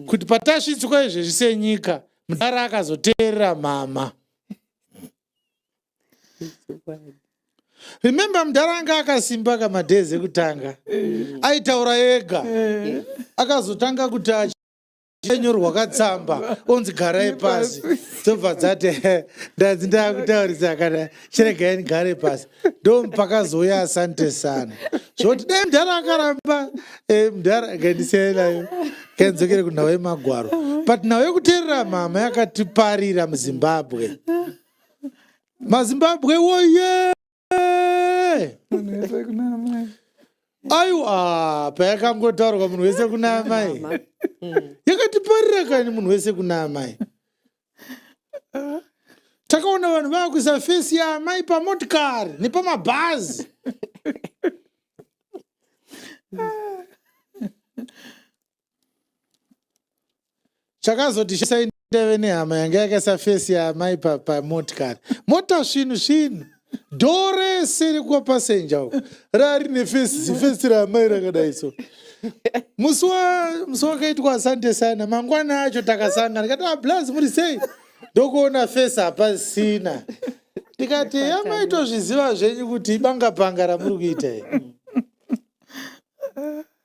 kuti patasvitswa izvezvi senyika mudhara akazoteerera mama remember mudhara anga akasimba ka madays ekutanga mm. aitaura ega mm. akazotanga kuti achinyorwa katsamba onzi garai pasi dzobva dzati ndanzi ndakutaurisa kana chiregai ndigare pasi ndompakazouya asante sana zvoti dai mdhara akaramba eh, mdhara akaendisiyai nayo kainzokere kunhau yemagwaro but nhau yekuteerera mhama yakatiparira muzimbabwe mazimbabwe woye aiwa payakangotaurwa munhu wese kuna amai yakatiparira kani munhu wese kuna amai takaona vanhu vaakuisa fesi yaamai pamotikari nepamabhazi chakazoti shandave nehama yanga yakaisa fesi yaamai pamotikari mota svinhu svinhu dhoo rese rekwapasenja uko raa rine fesi zifesi raamai rakadai so musi wa- musi wakaitwa asante sana mangwana acho takasangana ndikati ablas muri sei ndokuona fesi hapasina ndikati amai tozviziva zvenyu kuti ibanga panga ramuri kuita iri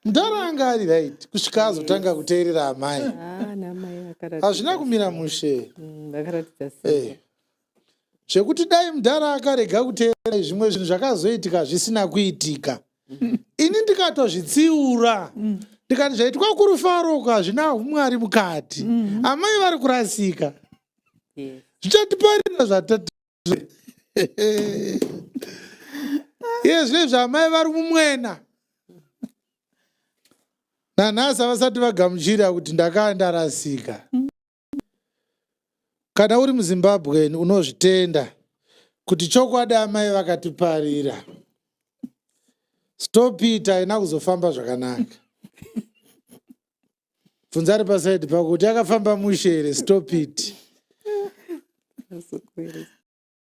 mdara anga ari right kusvika azotanga kuteerera amai Ah, namai vakaratidza hazvina kumira mushe Mm, vakaratidza simba. Eh, zvekuti dai mudhara akarega kuteerera zvimwe zvinhu zvakazoitika zvisina kuitika mm. ini ndikatozvitsiura mm. ndikati zvaitwa kurufaroko hazvina umwari mukati mm. amai vari kurasika zvichatiparira zvatati yezvezvo amai vari mumwena nanhasi havasati vagamuchira kuti ndakaa ndarasika mm. Kana uri muZimbabwean unozvitenda kuti chokwadi amai vakatiparira. Stop it haina kuzofamba zvakanaka. Bvunza ari paside pako kuti yakafamba mushe here stop it.